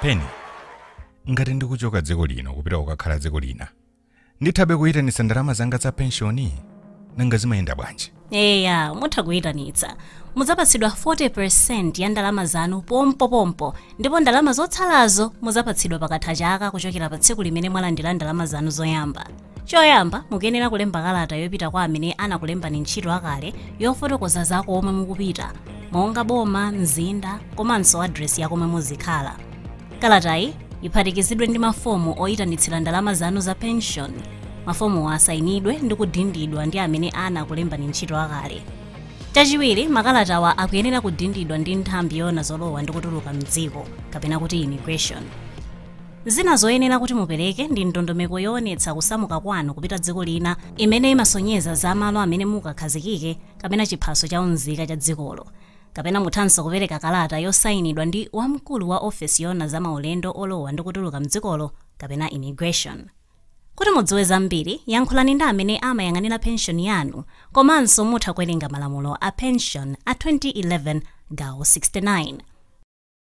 pena ngati ndikuchoka dziko lino kupita kukakhala dziko lina Nditha kuyitanitsa ndalama zanga za penshoni? Nanga zimayenda bwanji? Eya, mutha kuyitanitsa. Mudzapatsidwa 40% ya ndalama zanu pompopompo ndipo ndalama zotsalazo mudzapatsidwa pakatha chaka kuchokera pa tsiku limene mwalandira ndalama zanu zoyamba. Choyamba, mukuyenera kulemba kalata yopita kwa amene anakulembani ntchito akale yofotokoza za komwe mukupita, monga boma, mzinda, komanso adiresi ya komwe muzikhala. Kalatayi iphatikizidwe ndi mafomu oyitanitsira ndalama zanu za pension. Mafomuwa asayinidwe ndi kudindidwa ndi amene anakulembani ntchito akale. Chachiwiri, makalatawa akuyenera kudindidwa ndi nthambi yoona zolowa ndi kutuluka mdziko kapena kuti immigration. Zina zoyenera kuti mupereke ndi ndondomeko yoonetsa kusamuka kwanu kupita dziko lina imene imasonyeza za malo amene mukakhazikike kapena chiphaso cha unzika cha dzikolo. Kapena muthanso kupereka kalata yosainidwa ndi wamkulu wa ofesi yoona za maulendo olowa ndi kutuluka m'dzikolo kapena immigration. Kuti mudziwe zambiri, yankhulani ndi amene amayang'anira penshoni yanu komanso mutha kuwerenga malamulo a penshoni a 2011 gawo 69.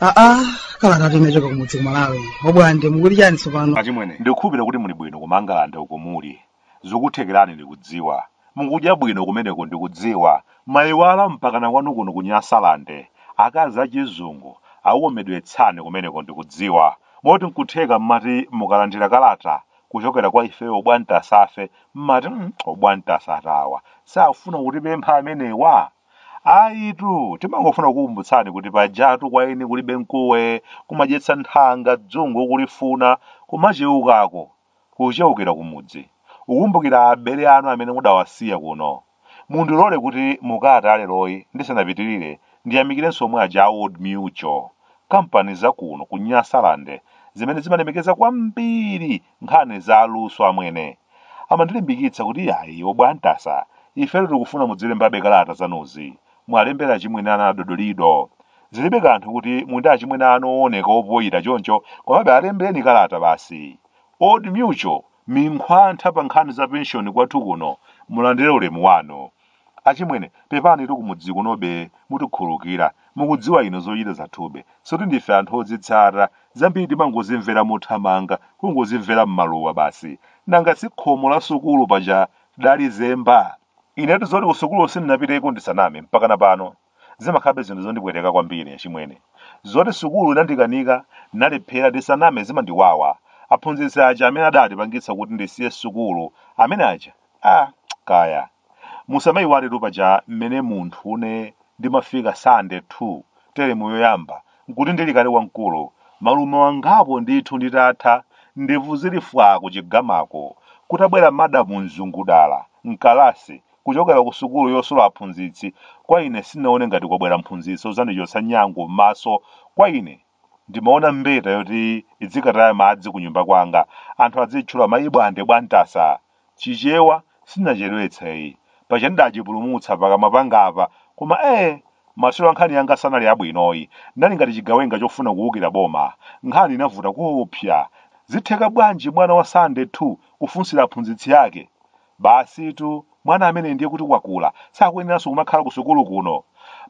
aa kalatatu inachoka kumudzi ku Malawi obwande mukuti chani tsopano achimwene ndikukhulupirira kuti muli bwino kumangalande uko muliko Zikuthekerani ndikudziwa. Mukudya bwino kumeneko ndikudziwa. Mwayiwala mpakana kwanu kuno ku Nyasalande. Akazi a chizungu akukomedwetsani kumeneko ndikudziwa. Moti nkutheka mmati mukalandira kalata kuchokera kwa ifeyo Obwantasafe mmati mm Obwantasa awa sakufuna kutipempha amenewa? Ayitu timangofuna kukukumbutsani kuti pajatu kwa eni kulibe mkuwe, kumadyetsa nthanga dzungu ukulifuna, kumacheukako kucheukira kumudzi, kukumbukira abale anu amene mudawasiya kuno. Mundilole kuti mu kalata leroyi ndisanapitilire ndiyamikirenso omwe aja a Old Mutual, kampani za kuno ku Nyasaland zimene zimalemekeza kwambiri nkhani za luso amwene. Amandilimbikitsa kuti iyayi, Obwantasa, ifetu tikufuna mudzilembabe kalata zanuzi. mwalembera achimwene anu adodolido zilibe kanthu kuti mundi achimwene anu owoneka opoyira choncho komabe alembereni kalata basi old mutual ndi nkhwantha pa nkhani za penshoni kwathu kuno mulandire ulemu wanu achimwene pepanitu kumudzi kunobe mutikhululukira mukudziwa inu zochita zathube soti ndife anthu ozitsata zambiri timangozimvera mothamanga kungozimvera m'maluwa basi nanga si khomo la sukulu paja tidalizemba Inetu zoti kusukulu sindinapiteko ndisaname mpakana pano zimakhalabe zinthu zondipweteka kwambiri achimwene. Zoti sukulu inandikanika, ndinalephera ndisaname zimandiwawa. Aphunzitsi aja amene adatipangitsa kuti ndisiye sukulu, amene aja, ah, kaya. Musamaiwaletu paja mmene munthune Ndimafika Standard 2 teremu yoyamba nkuti ndili kale wamkulu, malume wa angapo ndithu nditatha, ndevu zili fwaa kuchigamako, kutabwera madamu Mzungudala, mkalasi, kuchokera kusukulu yosula aphunzitsi, kwa ine sindinaone ngati kwabwera mphunzitsi odzandichotsa nyangu mmaso, kwa ine Ndimaona mbeta yoti idzikataya madzi kunyumba kwanga anthu adziitchula mayi Bwande Bwantasa. Chichewa sindinachedwetseyi. Paja ndidachipulumutsa pakamwa pangapa koma ee! Maswero a nkhani yanga sanali abwinoyi. Ndinali ngati chigawenga chofuna kuukira boma. Nkhani inavuta koopsa. Zitheka bwanji mwana wa Standard 2 kufunsira aphunzitsi ake? Basitu, mwana ameneyu ndiye kuti wakula, sakuyeneranso kumakhala kusukulu kuno.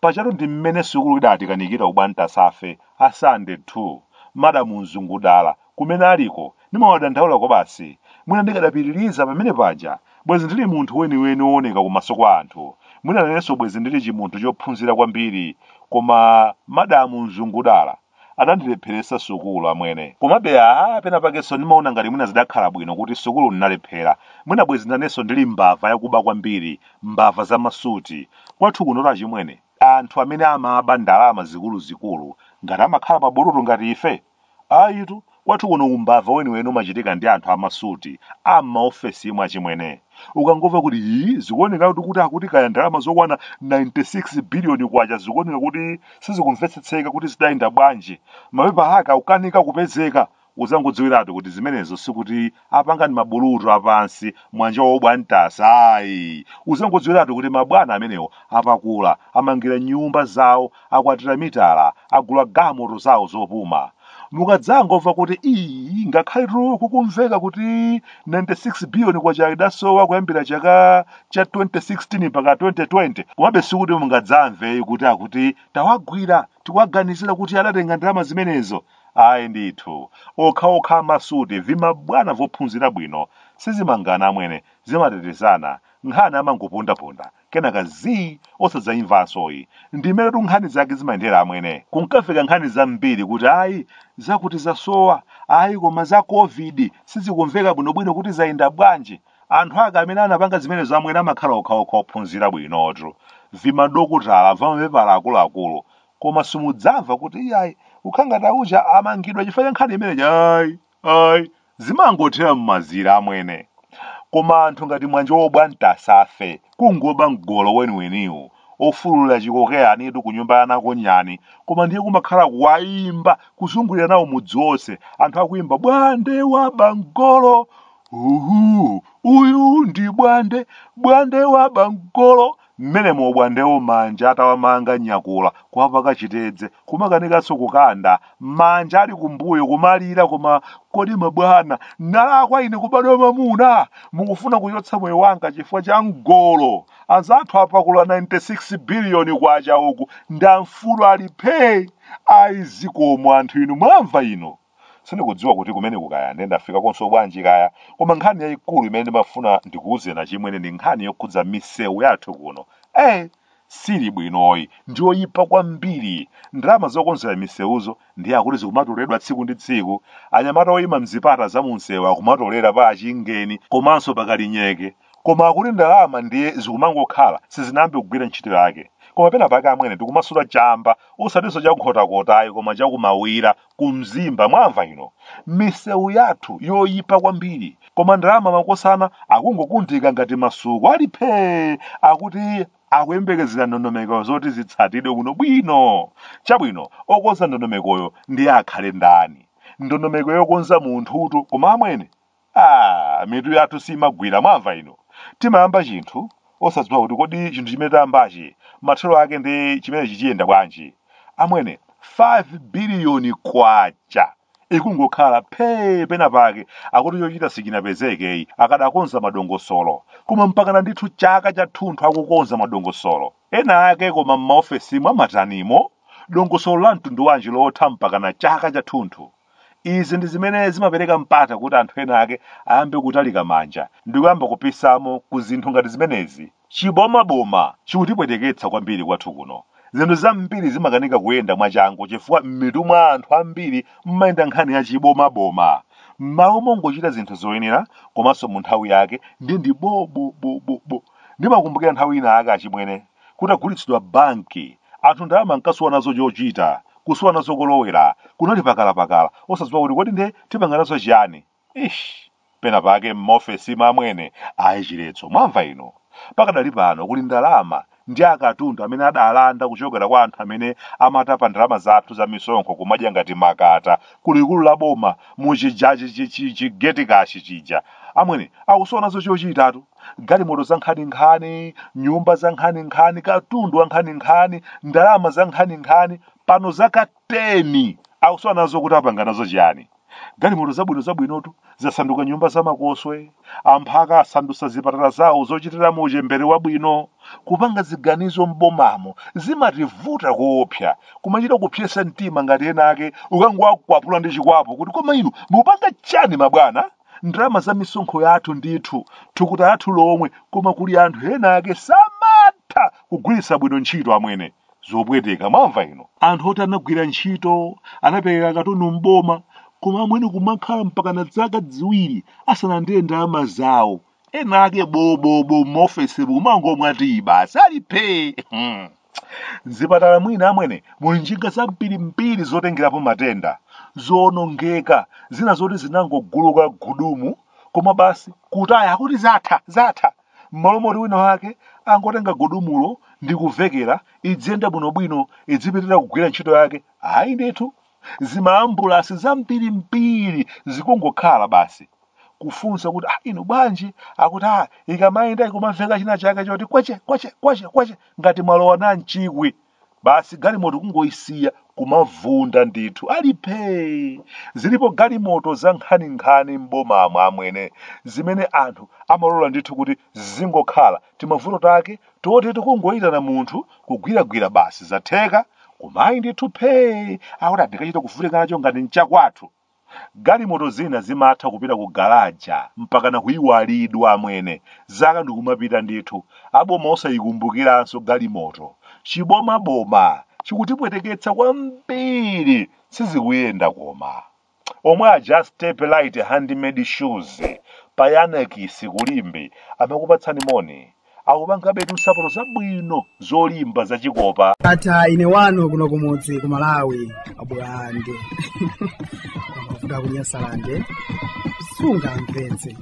Pajatu ndi mmene sukulu idatikanikira ubwantasafe, a Standard 2. Madamu Mzungudala, kumene aliko, ndimawadandaula kwabasi. Mwina ndikadapitiriza pamene paja, bwezi ndili munthu weniweni wooneka kumaso kwa anthu. Mwina nanenso bwezi ndili chimunthu chophunzira kwambiri. Koma madamu Mzungudala. adandilepheretsa sukulu amwene komabe aa pena pakenso ndimaona ngati mwina zidakhala bwino kuti sukulu ndinalephera mwina bwezi nanenso ndili mbava yakuba kwambiri mbava za masuti kwathu kunotu achimwene anthu amene amaba ndalama zikuluzikulu ngati amakhala mabulutu ngati ife ayitu Kwathu kuno umbava weniweni umachitika ndi anthu amasuti a m'maofesi imwe achimwene. Ukangomva kuti ii zikuoneka kuti kuti akuti kaya ndalama zokwana 96 biliyoni kwacha zikuoneka kuti sizikumvetsetseka kuti zidayenda bwanji, mapepala ake akukanika kupezeka, udzangodziwiratu kuti zimenezo sikuti apanga ndi mabulutu apansi mwanja wa Bwantasa ayi uzangodziwiratu kuti mabwana amenewo apakula amangira nyumba zawo akwatira mitala agula galimoto zawo zopuma mukadzangomva kuti ii ngakhaletu kukumveka kuti 96 biliyoni kwacha idasowa kuyambira chaka cha 2016 mpaka 2020 komabe sikuti mungadzamve kuti akuti tawagwira tikuwaganizira kuti adatenga ndalama zimenezo Ayi ndithu, okhaokha amasuti, vimabwana vophunzira bwino, sizimangana amwene, zimatetezana, nkhani amangopondaponda, kenaka zii, osadzaimvanso yi. Ndimeretu nkhani zake zimayendera amwene. Kunkafika nkhani zambiri kuti ayi, zakuti zasowa, ayi koma za Covid sizikumveka bwinobwino kuti zayenda bwanji. Anthu ake amene anapanga zimenezo amwene amakhala okhaokha ophunzira bwinotu. Vimadokotala, vamapepala akuluakulu, koma simudzamva kuti iyayi kukhala ngati auja amangidwa chifukwa cha nkhani imeneyi ayi ayi zimangothera m'mazira amwene koma anthu ngati mwana wobwanta ngati ife kungoba mgolo weniweniwo ofulula chikokeyanitu ku nyumba yanako nyani koma ndiye kumakhala kuwayimba kuzungulira nawo mudzi wonse anthu akuyimba bwande waba mgolo uhu uyu ndi bwande bwande waba mgolo M'menemo a Bwandewo manja atawamanga nyakula, kuwapaka chitedze, kumakanikanso kukanda, manja ali kumbuyo kumalira koma kodi mabwana, ndinalakwa ine kubadwa mwamuna? Mukufuna kuchotsa moyo wanga chifukwa cha mgolo? Anzathu apakula K96 biliyoni kwacha uku ndi amfulu ali phee! Ayi zikomo anthu inu mwamva inu? sindikudziwa kuti kumeneku kaya nde ndafika konko bwanji kaya koma nkhani yayikulu imene ndimafuna ndikuwuzeni achimwene ndi nkhani yokhudza misewu yathu kuno eh sili bwinoyi ndiyoyipa kwambiri ndalama zokonzera misewuzo ndiye akuti zikumatoleredwa tsiku ndi tsiku anyamata oyima mzipata za mumsewu akumatolera pa Chingeni komanso pa Kalinyeke koma akuti ndalama ndiye zikumangokhala sizinayambe kugwira ntchito yake koma pena pake amwene tikumasuta chamba osatinso cha Nkhotakotayi koma chakumaula kumzimba mwamva inu misewu yathu yoyipa kwambiri koma ndalama makosana akungokundika ngati masuku ali phee akuti akuyembekezera ndondomeko zoti zitsatidwe bwinobwino chabwino okonza ndondomekoyo ndiye akhale ndani ndondomeko yokonza munthutu koma amwene ah mitu yathu simagwira mwamva inu timayamba chinthu osadziwa kuti kodi chinthu chimene tayambachi mathero ake nchiyani nanga chidziyenda bwanji amwene 5 biliyoni kwacha ikungokhala phee pena pake akuti chochita sichinapezekeyi akadakonza madongosolo koma mpakana ndithu chaka chathunthu akukonza madongosolo ena ake koma m'maofesimo amatanimo dongosolo la mtundu wanji lotha mpakana chaka chathunthu izi ndi zimene zimapereka mpata kuti anthu ena ake ayambe kutalika manja ndi kuyamba kupisamo ku zinthu ngati zimenezi chibomaboma chikutipweteketsa kwambiri kwathu kuno zinthu zambiri zimakanika kuyenda mwachangu chifukwa m'mitu mwa anthu ambiri mmayenda nkhani ya chibomaboma m'malo mongochita zinthu zoyenera komanso mu nthawi yake ndiye ndi bobobobobo ndimakumbukira nthawi ina ake achimwene Kutagulitsidwa banki, anthu ndalama ankasowa nazo chochita, kusowa nazo kolowera, kunali pakalapakala, osadziwa kuti kodi nde tipanga nazo chiyani? Eish! Pena pake m'maofesimu amwene, ayi chiletso, mwamva inu? Pakadali pano kuli ndalama ndi akatundu amene adalanda kuchokera kwa anthu amene amatapa ndalama zathu za misonkho kumadya ngati makata ku likulu la boma mu chija chi chi chi chi geti kashi chija. Amwene, akusowa nazo chochitatu. galimoto za nkhaninkhani nyumba za nkhaninkhani katundu wa nkhaninkhani ndalama za nkhaninkhani pano zaka 10 akusowa nazo kuti apanga nazo chiyani galimoto zabwino zabwinotu zasanduka nyumba zamakoswe amphaka asandusa zipatala zawo zochitiramo uchembere wabwino kupanga ziganizo m'bomamo zimativuta koopsa kumachita kupsetsa mtima ngati ena ake ukangowakwapula ndi chikwapu kuti koma inu mukupanga chani mabwana ndalama za misonkho yathu ndithu thukuta lathu lomwe koma kuli anthu ena ake samatha kugwiritsa bwino ntchito amwene zopweteka mwamva inu anthu oti anagwira ntchito anapereka katundu m'boma koma amwene kumakhala mpakana zaka ziwiri asanalandire ndalama zawo ena ake bobobo m'maofesi kumangomwa tiyi basi ali phee Hmm. m'zipatala mwina amwene muli njinga zambirimbiri zotengerapo matenda zoonongeka zina zoti zinangoguluka gudumu koma basi kutaya akuti zatha zatha m'malo moti wina wake angotenga gudumulo ndi kuvekera idziyenda bwinobwino idzipitira kugwira ntchito yake ayi ndithu zimaambulasi zambirimbiri zikungokhala basi kufunsa kuti ah, inu bwanji akuti ah, ikamayenda ikumamveka china chake choti kweche kweche kweche kweche ngati mwalowa namchikwi basi galimoto kungoyisiya kumavunda ndithu ali phee zilipo galimoto za nkhaninkhani m'bomamo amwene zimene anthu amalola ndithu kuti zingokhala timavuto take toti tikungoyitana munthu kugwiragwira basi zatheka koma ayi ndithu phee akuti ah ndikachita kuvutika nacho ngati n'chakwathu Galimoto zina zimatha kupita ku galaja mpakana kuiwalidwa amwene. Zaka ndikumapita ndithu. Aboma osaikumbukiranso galimoto. Chiboma boma chikutipweteketsa kwambiri sizikuyenda koma. Omwe aja a Step Lite handmade shoes pa Yiannakis ku Limbe amakupatsani moni. akupangabetu nsapato zabwino zolimba zachikopa ndatha ine wanu kuno kumudzi ku malawi abulande kuda kunyasalande sunga mpenzi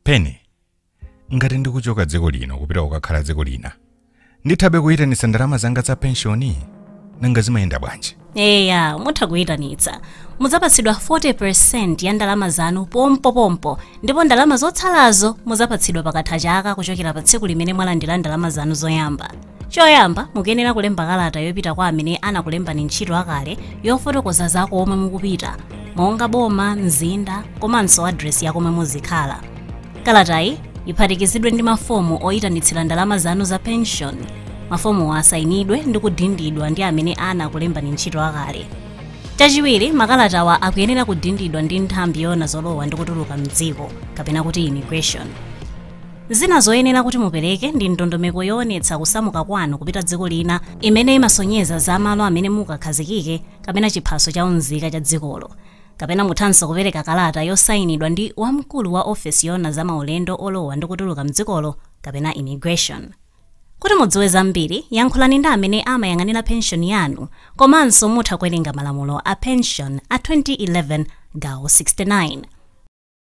peni ngati ndikuchoka dziko lino kupita kukakhala dziko lina ndithabe kuyitanitsa ndalama zanga za penshoni nanga zimayenda bwanji eya mutha kuyitanitsa mudzapatsidwa 40 ya ndalama zanu pompopompo ndipo ndalama zotsalazo mudzapatsidwa pakatha chaka kuchokera pa tsiku limene mwalandira ndalama zanu zoyamba choyamba mukuyenera kulemba kalata yopita kwa amene anakulembani ntchito akale yofotokoza za komwe mukupita monga boma mzinda komanso adresi ya komwe muzikhala kalatayi iphatikizidwe ndi mafomu oyitanitsira ndalama zanu za pension mafomuwa asayinidwe ndi kudindidwa ndi amene anakulembani ntchito akale chachiwiri makalatawa akuyenera kudindidwa ndi nthambi yoona zolowa ndi kutuluka mdziko kapena kuti immigration Zina zoyenera kuti mupereke ndi ndondomeko yoonetsa kusamuka kwanu kupita dziko lina imene imasonyeza za malo amene mukakhazikike kapena chiphaso cha unzika cha dzikolo. Kapena muthanso kupereka kalata yosainidwa ndi wamkulu wa ofesi yoona za maulendo olowa ndi kutuluka m'dzikolo kapena Immigration. Kuti mudziwe zambiri, yankhulani ndi amene amayang'anira penshoni yanu komanso mutha kuwerenga malamulo a penshoni a 2011 gawo 69.